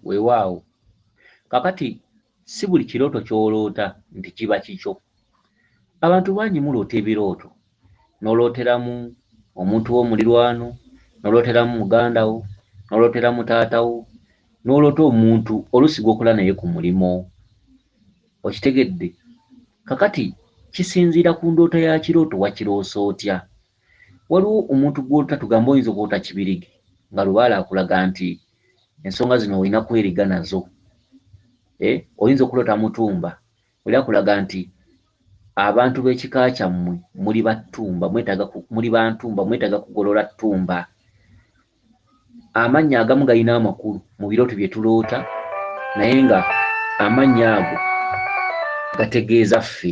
Weewaawo. Kaakati, si buli kirooto ky'oloota nti kiba kikyo. Abantu bangi muloota ebirooto, n'olooteramu omuntu wo mulirwano, n'olooteramu muganda wo, n'olooteramu taata wo, n'oloota omuntu oluusi gw'okola naye ku mulimu. Okitegedde? Kaakati, kisinziira ku ndoota ya kirooto wakiroose otya. waliwo omuntu gw'ota tugamba oyinza okwota kibirige nga lubaale akulaga nti ensonga zino olina kweriga nazo eh, oyinza okuloota mutumba oli akulaga nti abantu b'ekika kyammwe muli battumba mwetaaga muli bantumba mwetaaga kugolola ttumba amannya agamu galina amakulu mu birooto bye tuloota naye nga amannya ago gategeeza ffe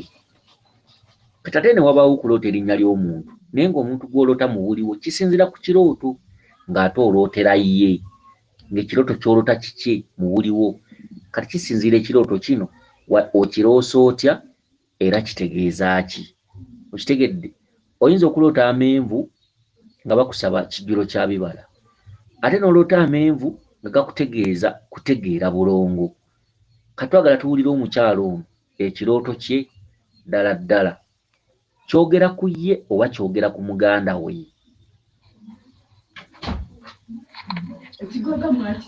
kati ate ne wabaawo okuloota erinnya ly'omuntu naye ng'omuntu gw'oloota muwuliwo kisinzira ku kirooto ng'ate olootera ye ng'ekirooto ky'oloota kiki muwuliwo kati kisinziira ekirooto kino okiroosa otya era kitegeeza ki okitegedde oyinza okuloota amenvu nga bakusaba kijjulo kya bibala ate noloota amenvu nga gakutegeeza kutegeera bulongo katwagala tuwulire omukyalo ono ekirooto kye ddala ddala kyogera ku ye oba kyogera ku muganda we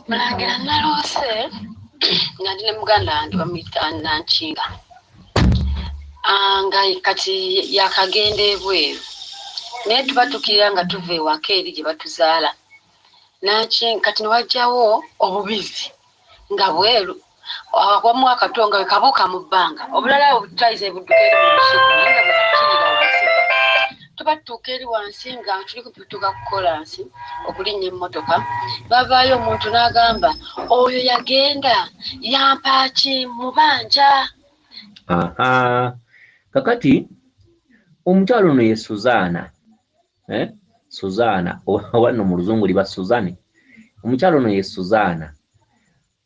mulangira naloose nga ndi ne muganda wange bamuyita nankinga ah, nga kati yakagenda ebweru naye tubatukirira nga tuva ewaka eri gye batuzaala kati newajjawo obubizi nga bweru awamu akato nga wekabuuka mu bbanga obulala obutaiza ebudduka eri mu lusuku naye nga bwetukiira wansi tuba tutuuka eri wansi nga tuli kutuuka ku kolansi okulinnya emmotoka bavaayo omuntu n'agamba oyo yagenda yampaaki mubanja kakati omukyalo ono ye suzaana eh? suzaana oba no mu luzungu liba suzani omukyalo ono ye suzaana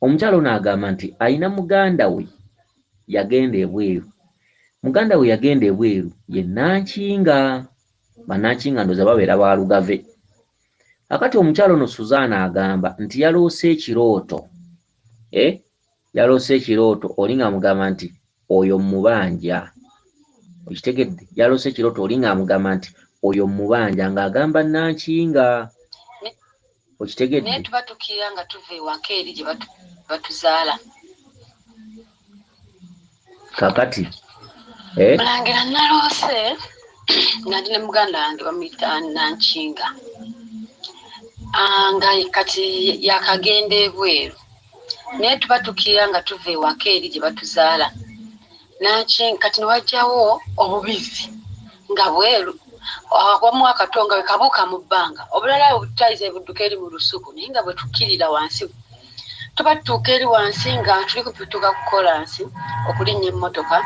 omukyalo ono agamba nti alina muganda we yagenda ebweru muganda we yagenda ebweru ye nankinga banankinga ndoza babeera ba lugave akati omukyalo ono suzaana agamba nti yaloose ekirooto eh? yaloose ekirooto oli nga amugamba nti oyo mubanja okitegedde yaloose ekirooto oli nga amugamba nti oyo mubanja ng'agamba nankinga okitegedde naye tuba tukira nga tuva ewaka eri gye batuzaala kakati eh? mulangira naloose nga ndi ne muganda wange bamuyita nankinga ah, nga kati yakagenda ebweru naye tuba tukira nga tuva ewaka eri gye batuzaala kati newajjawo obubizzi nga bweru awamu akatonga wekabuuka mu bbanga obulala obutayiza ebudduka eri mu lusuku naye nga bwetukkirira wansi tuba tutuuka eri wansi nga tuli kutuuka ku kolansi okulinnya emmotoka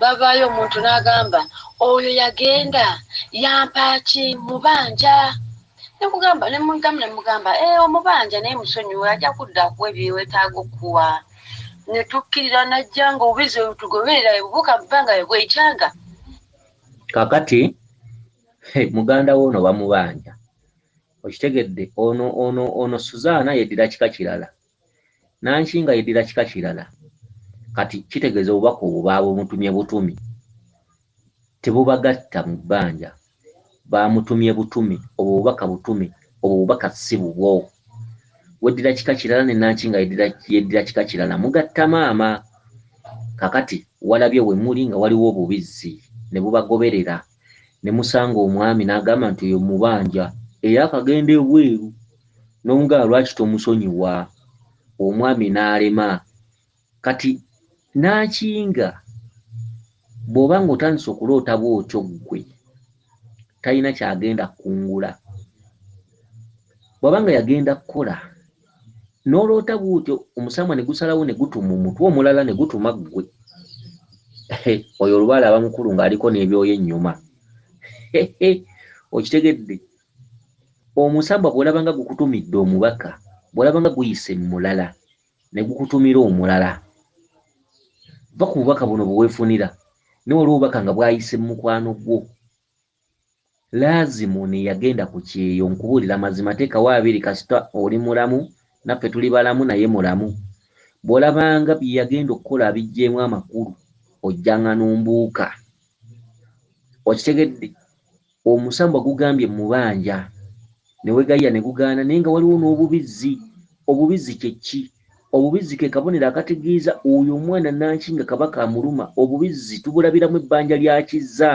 bavaayo omuntu n'agamba oyo yagenda yampaaki mubanja nekugamba nemudamu nemugamba eh, omubanja naye musonyiwe ajja kudda kuwe byewetaaga okukuwa netukkirira najja nga obubizi webutugoberera ebubuuka mubanga webwekyanga kakati muganda woono bamubanja okitegedde ono ono ono suzaana yeddira kika kirala nankinga yeddira kika kirala kati kitegeeza obubaka obwo baabutumye butumi tebubagatta mu bbanja baamutumye butumi obwo bubaka butumi obwo bubaka si bubwo weddira kika kirala ne nankinga yeddira kika kirala mugatta maama kakati walabye we muli nga waliwo obubizzi ne bubagoberera ne musanga omwami n'agamba nti oyo mubanja era akagenda ebweru n'omugamba lwaki tomusonyiwa omwami n'alema kati n'akinga bw'oba ng'otandise okuloota bw'otyo ggwe talina ky'agenda kukungula bw'aba nga yagenda kukola n'oloota bw'otyo omusambwa ne gusalawo ne gutuma omutwe omulala ne gutuma ggwe oyo olubaala aba mukulu ng'aliko n'ebyoyo ennyuma okitegedde omusambwa bw'olaba nga gukutumidde omubaka bw'olaba nga guyise mu mulala ne gukutumira omulala va ku bubaka buno bwe weefunira newaliwo obubaka nga bwayise mu mukwano gwo Lazimu ono eyagenda ku kyeyo nkubuulira mazima teekawo abiri kasita oli mulamu naffe tuli balamu naye mulamu bw'olabanga bye yagenda okukola abiggyemu amakulu ojjanga n'ombuuka okitegedde omusambwa gugambye mubanja ne wegayiya ne gugaana naye nga waliwo n'obubizzi obubizzi kye ki? Obubizzi ke kabonero akategeeza oyo omwana nanki nga kaba kamuluma. Obubizzi tubulabiramu ebbanja lya kizza.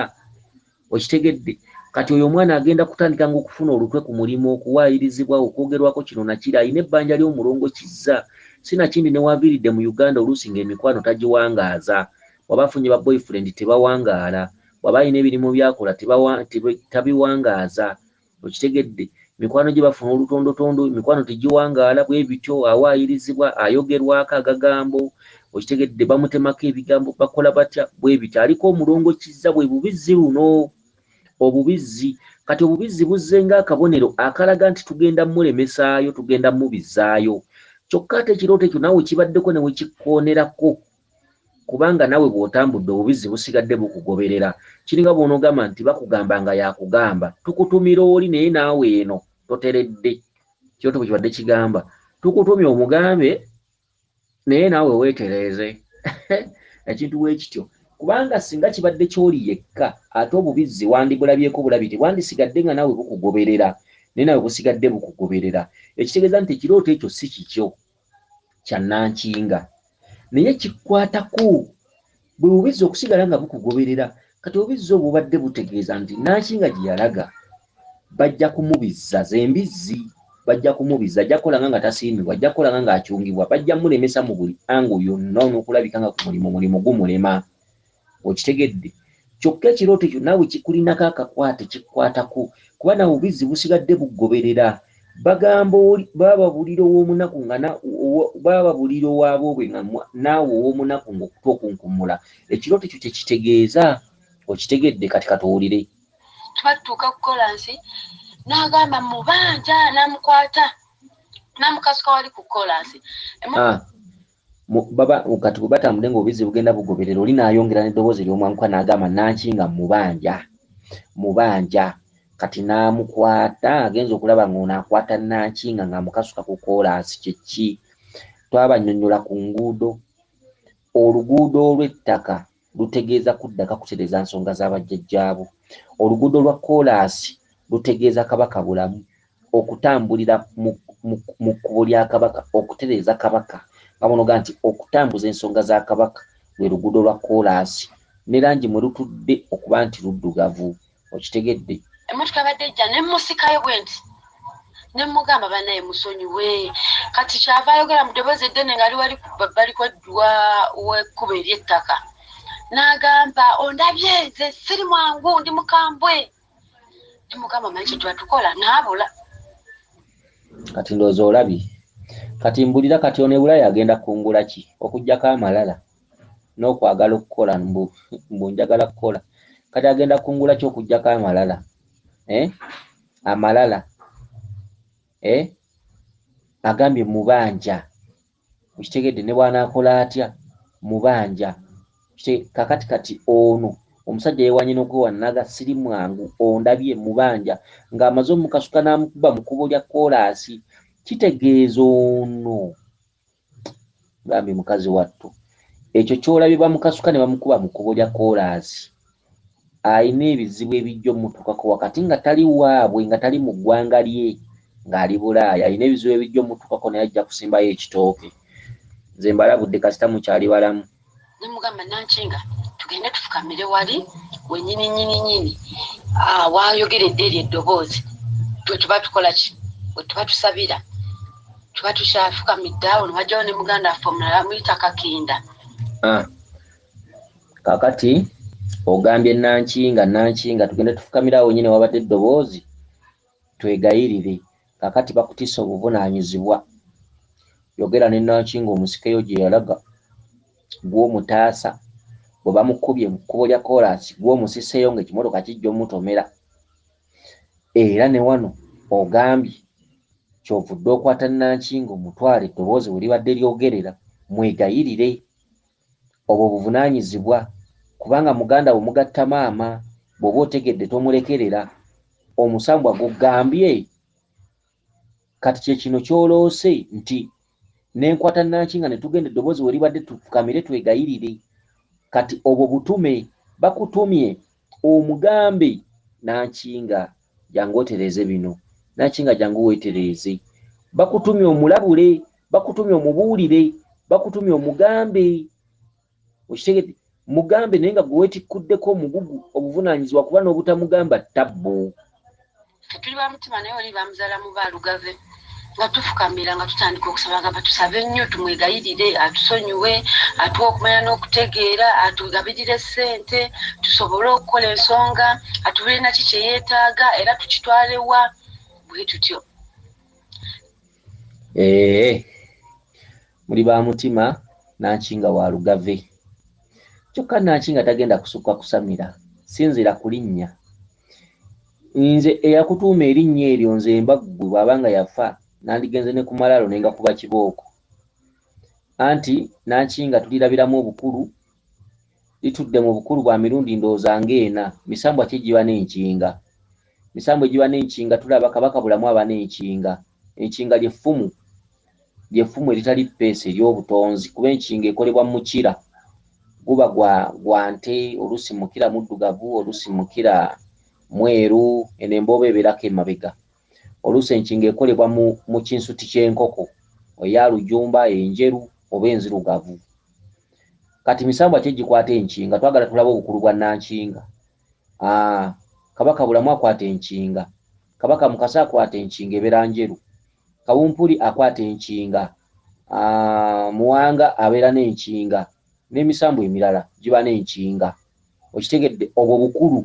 Okitegedde? Kati oyo omwana agenda kutandika nga okufuna olutwe ku mulimu, okuwaayirizibwa, okwogerwako kino na kiri. Alina ebbanja ly'omulongo kizza. Si na kindi ne w'aviiridde mu Uganda oluusi nga emikwano tagiwangaaza. Bw'aba afunye ba boyfriend tebawangaala. Bw'aba alina ebirimu by'akola teba, tabiwangaaza. okitegedde mikwano gye bafuna olutondotondo mikwano tegiwangaala bwe bityo awaayirizibwa ayogerwako agagambo okitegedde bamutemako ebigambo bakola batya bwe bityo aliko omulongo kizza bwe bubizzi luno obubizzi kati obubizzi buzze ng'akabonero akalaga nti tugenda mulemesaayo tugenda mubizaayo kyokka ate ekirooto ekyo naawe kibaddeko ne wekikoonerako kubanga nawe bwotambudde obubizzi busigadde bukugoberera kiringa bwonogamba nti bakugamba nga yakugamba tukutumira oli naye naawe eno toteredde kyoto bwekibadde kigamba tukutumye omugambe naye naawe wetereeze ekintu bwekityo kubanga singa kibadde kyoli yekka ate obubizzi wandibulabyeko bulabi tebwandisigadde nga naawe bukugoberera naye nawe busigadde bukugoberera ekitegeeza nti ekirooto ekyo si kikyo kya nankinga naye kikwatako bwe bubizza okusigala nga bukugoberera kati obubizza obwo bubadde butegeeza nti nankinga gye yalaga bajja kumubizza zembizzi bajja kumubizza ajja kukolanga nga tasiimibwa ajja kukolanga ng'akyungibwa bajja mulemesa mu buli ango yonna n'okulabika nga ku mulimu mulimu gumulema okitegedde kyokka ekirooto ekyo naawe kikulinako akakwate kikwatako kuba nawe obizzi busigadde bugoberera bagamba bababulira owomunaku nga bababulira owaboobwe nga naawe owomunaku ngaokuta okunkumula ekirooto ekyo kyekitegeeza okitegedde kati katuwulire twattuuka kukola nsi nagamba mubanja namukwata namukasuka wali kukola nsi ah. baba kati bwe batambudde ng'obizzi bugenda bugoberera oli n'ayongera n'eddoboozi ery'omwanguka n'agamba nanki nga mubanja mubanja kati n'amukwata agenza okulaba ng'ono akwata nankinga ng'amukasuka ku koolaasi kyeki twabannyonnyola ku nguudo oluguudo olw'ettaka lutegeeza kuddaka kutereza nsonga za bajjajjaabo. Oluguudo lwa kkoolaasi lutegeeza Kabaka Bulamu okutambulira mu mu kkubo lya Kabaka okutereeza Kabaka nga bw'onoga nti okutambuza ensonga za Kabaka lwe luguudo lwa kkoolaasi ne langi mwe lutudde okuba nti luddugavu. okitegedde emotoka yabadde ejja nemusikayo bwenti nemugamba banaye musonyiwe kati kyava ayogera mu ddoboozi eddene ngaali wali babbali kwedduwa wekkuba eryettaka n'agamba ondabye nze siri mwangu ndi mukambwe nemugamba manyi kyetwatukola naabula kati ndoozi olabye kati mbulira kati ono ebulaya agenda kungula ki okujjako amalala n'okwagala okukola mbu mbu njagala kukola kati agenda kungula ki okugyako amalala eh? amalala eh? agambye mubanja okitegedde ne bwanaakola atya mubanja kakati kati ono omusajja yewanye nokwewanaga siri mwangu ondabye mubanja ng'amaze omukasuka n'amukuba mu kubo lya koolaasi kitegeeza ono bambi mukazi wattu ekyo kyolabye bamukasuka ne bamukuba mu kkubo lya koolaasi alina ebizibu ebijja omutuukako wakati nga tali waabwe nga tali mu ggwanga lye ng'ali bulaaya alina ebizibu ebijja omutuukako naye ajja kusimbayo ekitooke nze mbalabudde kasita mukyali balamu ne mugamba nankinga tugende tufukamire wali wenyini nyini nyini ah, wayogeredde eryo eddoboozi twe tuba tukola ki we tuba tusabira tuba tukyafukamidde awo newajjawo ne muganda affe omulala amuyita kakinda ah. kakati ogambye nankinga nankinga tugende tufukamire awo nyini wabadde eddoboozi Twegayirire, kakati bakutisse obuvunanyizibwa. Yogera ne Nankinga omusikeyo gyeyalaga, gwe omutaasa, bwe bamukubye mu kkubo lya koolaasi gwe omusiseeyo nga ekimotoka kijja omutomera. Era ne wano ogambye kyovudde okwata Nankinga omutwale eddoboozi weribadde lyogerera. Mwegayirire. Obwo buvunanyizibwa kubanga muganda wo mugatta maama bwoba otegedde tomulekerera omusambwa gugambye Kati kyekino kyoloose nti nenkwata Nankinga netugenda eddobozi weribadde tufukamire twegayirire Kati obwo butume bakutumye omugambe Nankinga jangu otereeze bino nakinga jangu wetereeze bakutumye omulabule bakutumye omubuulire bakutumye omugambe okitegede mugambe naye nga gwewetikkuddeko omugugu obuvunaanyizibwa kuba n'obutamugamba ttabbu ffe tuli bamutima naye oli bamuzala mu balugave nga tufukamira nga tutandika okusaba agamba tusabe nnyo tumwegayirire atusonyiwe atuwa okumanya n'okutegeera atugabirire ssente tusobole okukola ensonga atubire naki kyeyeetaaga era tukitwalewa bwe tutyo ee muli ba mutima naki nga wa lugave kyokka naki nga tagenda kusukka kusamira sinzira kulinnya nze eyakutuuma erinnya eryo nze mba ggwe bw'aba nga yafa nandigenze ne ku malaalo ne ngakuba kibooko anti nankinga tulirabiramu obukulu litudde mu bukulu bwa mirundi ndowooza ng'ena misambwa ki egiba n'enkinga misambwa egiba n'enkinga tulaba kabaka bulamu aba n'enkinga enkinga ly'effumu ly'effumu eritali ppeesa ery'obutonzi kuba enkinga ekolebwa mu mukira guba gwa gwa nte oluusi mukira muddugavu oluusi mukira mweru eno embooba ebeerako emabega oluusi enkinga ekolebwa mu mu kinsuti ky'enkoko eya lujumba enjeru oba enzirugavu kati misambwa ki egikwata enkinga twagala tulabe obukulu bwa nankinga Ah, kabaka bulamu akwata enkinga kabaka mukasa akwata enkinga ebeera njeru kawumpuli akwata enkinga ah, muwanga abeera n'enkinga n'emisambwa emirala giba n'enkinga okitegedde obwo bukulu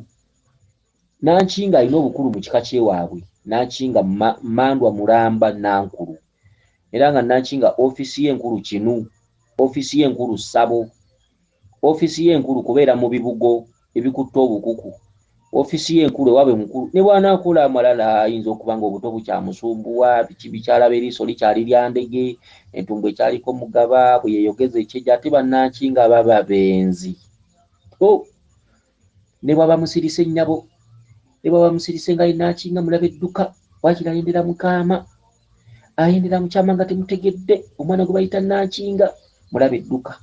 nankinga alina obukulu mu kika kyewaabwe nankinga mandwa mulamba nankulu era nga nankinga ofiisi ye enkulu kinu ofiisi ye enkulu ssabo ofiisi ye enkulu kubeera mu bibugo ebikutte obukuku ofiisi ye enkulu ewaabwe mukulu ne bw'anaakola amalala ayinza okuba ng'obuto bukyamusumbuwa biki bikyala b'eriiso likyali lya ndege entumbu ekyaliko mugaba bwe yeeyogeza ekyejo ate bannanki nga baba benzi oh! ne bwaba musirise nnyabo ne bwaba musirise nga yennaaki nga mulaba edduka wakira ayendera mukaama ayendera mukyama nga temutegedde omwana gwe bayita nnankinga mulaba edduka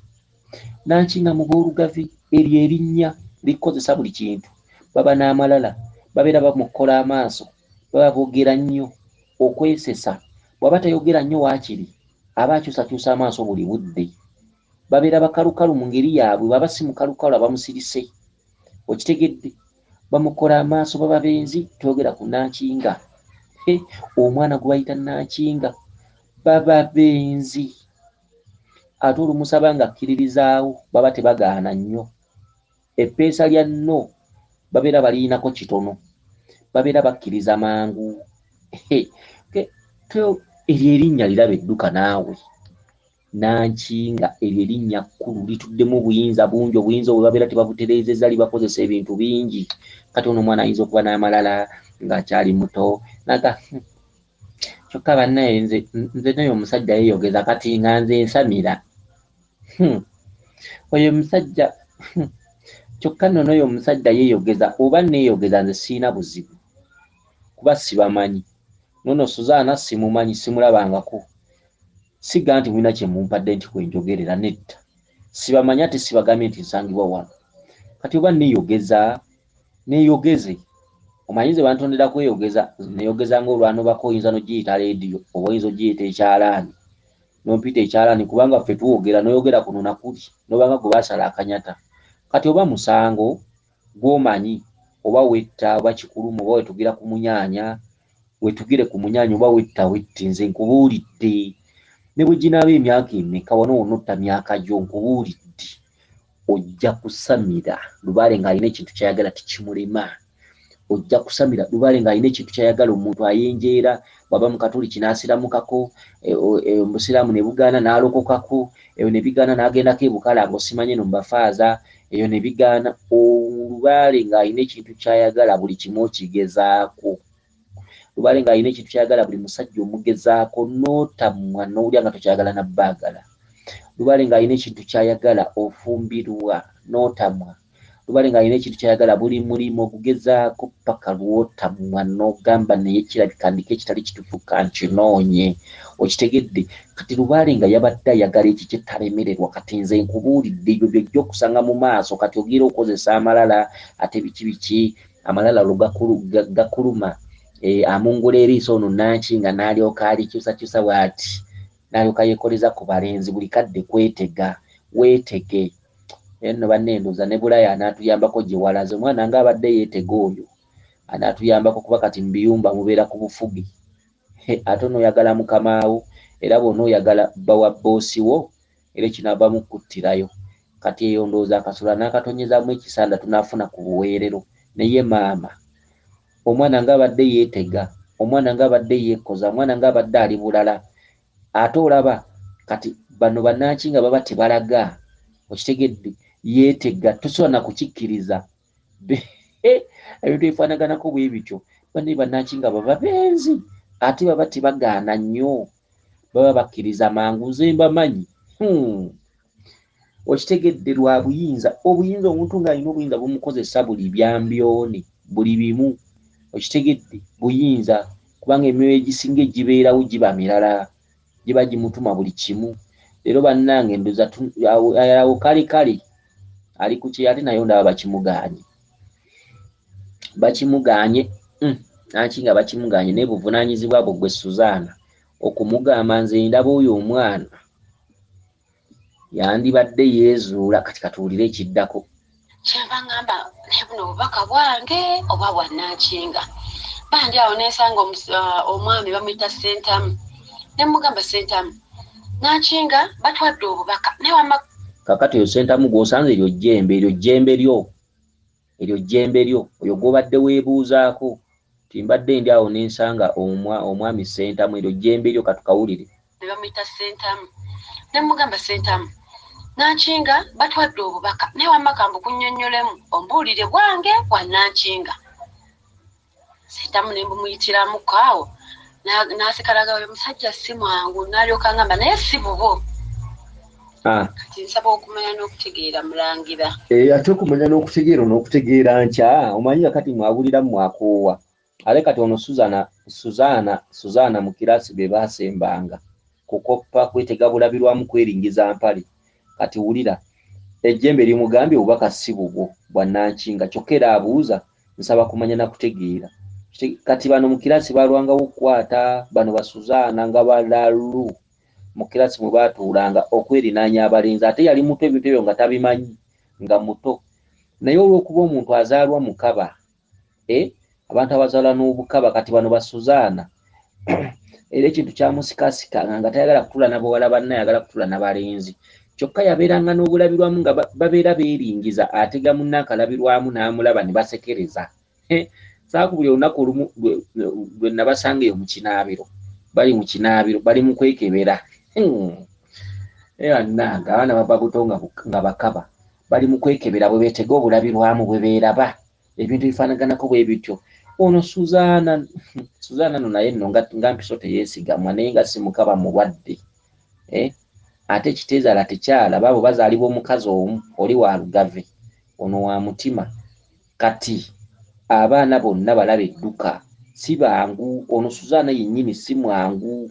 Nanki nga mu b'Olugavi eryo erinnya likukozesa buli kintu. Baba n'amalala, babeera bamokkola amaaso, baba boogera nnyo, okwesesa. Bw'aba tayogera nnyo waakiri aba akyusakyusa amaaso buli budde. Babeera bakalukalu mu ngeri yaabwe, bw'aba si mukalukalu aba musirise. Okitegedde? Bamokkola amaaso, baba benzi. Toyogera ku nanki nga. He, omwana gwe bayita nanki nga. Baba benzi. ate olumusaba nga akkiririzaawo baba tebagaana nnyo eppeesa lya no babeera baliyinako kitono babeera bakkiriza mangu eryo erinnya liraba edduka naawe nankinga eryo erinnya kkulu lituddemu obuyinza bungi obuyinza obwe babeera tebabutereezeza libakozesa ebintu bingi kati ono omwana ayinza okuba n'amalala ng'akyali muto naga hmm, kyokka bannaye nze nze naye omusajja yeyogeza kati nga nze nsamira hmm. oyo omusajja hmm. kyokka nno noyo omusajja yeyogeza oba neyogeza nze siina buzibu kuba sibamanyi nono suzaana simumanyi simulabangako siga nti mulina kyemumpadde nti kwenjogerera nedda sibamanyi ate sibagambye nti nsangibwa wano kati oba neyogeza neyogeze omanyi nze bantondera kweyogeza neyogeza nga olwanobako oyinza nogiyita lediyo oba oyinza ogiyita ekyalaani nompita ekyalaani kubanga ffe twogera noyogera kuno nakuli nobanga gwe basala akanyata kati oba musango gwomanyi oba wetta oba kikuluma oba wetugira ku munyanya wetugire ku munyanya oba wetta wette nze nkubuulidde ne bwe ginaaba emyaka emeka wano wonna otta myaka gyo nkubuulidde ojja kusamira lubaale ng'alina ekintu kyayagala tikimulema ojja kusamira lubaale ng'alina ekintu kyayagala omuntu ayenjeera bwaba mukatuliki n'asiramukako e, e, obusiraamu ne bugaana n'alokokako eyo ne bigaana n'agendako ebukala nga osimanye no mubafaaza eyo ne bigaana olubaale ng'alina ekintu kyayagala buli kimu okigezaako lubale nga alina ekintu kyayagala buli musajja omugezaako notamwa nowulira nga tokyagala nabbagala lubale nga alina ekintu kyayagala ofumbirwa notamwa lubale nga alina ekintu kyayagala buli mulimu ogugezaako paka lwotamwa nogamba naye kirabika ndiko ekitali kitufu kankinoonye okitegedde kati lubale nga yabadde ayagala ekyo kyetalemererwa kati nze nkubuulidde ebyo byojja okusanga mu maaso kati ogira okozesa amalala ate biki biki Amalala olwo gakulu, ga, gakuluma. E, amungula eriiso ono Nankinga n'alyoka alikyusakyusa bw'ati, n'alyoka yeekoleza ku balenzi buli kadde kwetega. Weetege. Naye nno banne ndooza ne Bulaya anaatuyambako gye walaze omwana nga abadde yeetega oyo anaatuyambako kuba kati mu biyumba mubeera ku bufuge. ate onoyagala mukamaawo era bwona oyagala bba wa bboosi wo era ekinaava mu kuttirayo kati eyo ndowooza akasula nakatonyezaamu ekisanda tunafuna ku buweerero naye maama omwana nga abadde yeetega omwana nga abadde yeekoza omwana nga abadde ali bulala ate olaba kati bano bananki nga baba tebalaga okitegedde yeetega tosobola nakukikkiriza ebintu ebifanaganako bwe bityo bane banaki nga baba benzi ate baba tebagaana nnyo baba bakkiriza mangu nze mbamanyi hmm. okitegedde lwa buyinza obuyinza omuntu ng'alina obuyinza bumukozesa buli byambyone buli bimu okitegedde buyinza kubanga emyoyo egisinga egibeerawo giba mirala giba gimutuma buli kimu leero bannange ndoza awo kale kale ali ku kyeyo ate nayo ndaba bakimuganye bakimuganye mm, naki nga bakimuganye naye buvunanyizibwa bwo gwe suzaana okumugamba nze ndaba oyo omwana yandibadde yeezuula kati katuwulire ekiddako kyeva ngamba naye buno obubaka bwange oba bwanankinga bandi awo nensanga uh, omwami bamuyita sentamu nemugamba sentamu nankinga batwadde obubaka naye wama kakati oyo sentamu gwosanze eryo jjembe eryo jjembe lyo Eryo jjembe lyo, oyo gw'obadde weebuuzaako nti mbadde ndi awo ne nsanga omwa, Omwami Ssentamu, eryo jjembe lyo, ka tukawulire. Ne bamuyita Ssentamu. Ne mmugamba, Ssentamu, Nankinga batwadde obubaka, naye wamma kambukunnyonnyolemu, ombuulire bwange bwa Nankinga. sentamu ne mbumuyitiramu kaawo nasikalaga oyo musajja si mwangu nalyoka ngamba naye si bubo ah. kati nsaba okumanya n'okutegeera mulangira eh, ate okumanya n'okutegeera n'okutegeera nkya omanyi nga kati mwabulira mwakoowa ale kati ono suzana suzana suzana mu kiraasi be baasembanga kukoppa kwetega bulabirwamu kweringiza mpale kati wulira ejjembe limugambye obubaka si bubwo bwannankinga kyokka era abuuza nsaba kumanya na kutegeera kati bano mu kiraasi balwangawo okukwata bano basuzaana nga balalu mu kiraasi mwe baatuulanga okwerinaanya abalenzi ate yali muto ebintu ebyo nga tabimanyi nga muto naye olw'okuba omuntu azaalwa mukaba e eh, abantu abazaala n'obukaba kati bano basuzaana era ekintu kyamusikasikanga nga tayagala kutula nabawala banna yagala kutula nabalenzi kyokka yabeeranga n'obulabirwamu nga babeera beeringiza atega munna akalabirwamu n'amulaba ne basekereza saaku buli olunaku olumu lwe nabasanga eyo mu kinaabiro bali mu kinaabiro bali mu kwekebera ananga abaana baba buto nga bakaba bali mu kwekebera bwe beetega obulabirwamu bwe beeraba ebintu ebifaanaganako bwe bityo ono suzaana suzaana no naye nno nga mpiso teyeesigamwa naye nga si mukaba mulwadde eh? ate ekiteezaala tekyala baabo bazaalibwa omukazi omu oli wa lugave ono wa mutima kati abaana bonna balaba edduka si bangu ono suzaana yennyini si mwangu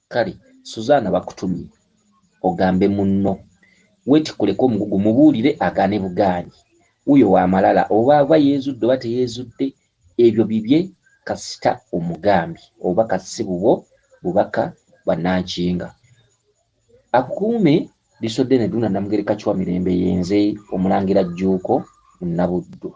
Kale Suzaana bakutumye ogambe munno. Weetikkuleko omugugu mubuulire agaane bugaanyi. Wuyo wa malala oba ava yeezudde oba teyeezudde ebyo bibye kasita omugambye. Obubaka si bubwo, bubaka bwa Nankinga. Akukuume Liisoddene Ddunda Namugereka Kiwamirembe Yenze Omulangira Jjuuko Munnabuddu.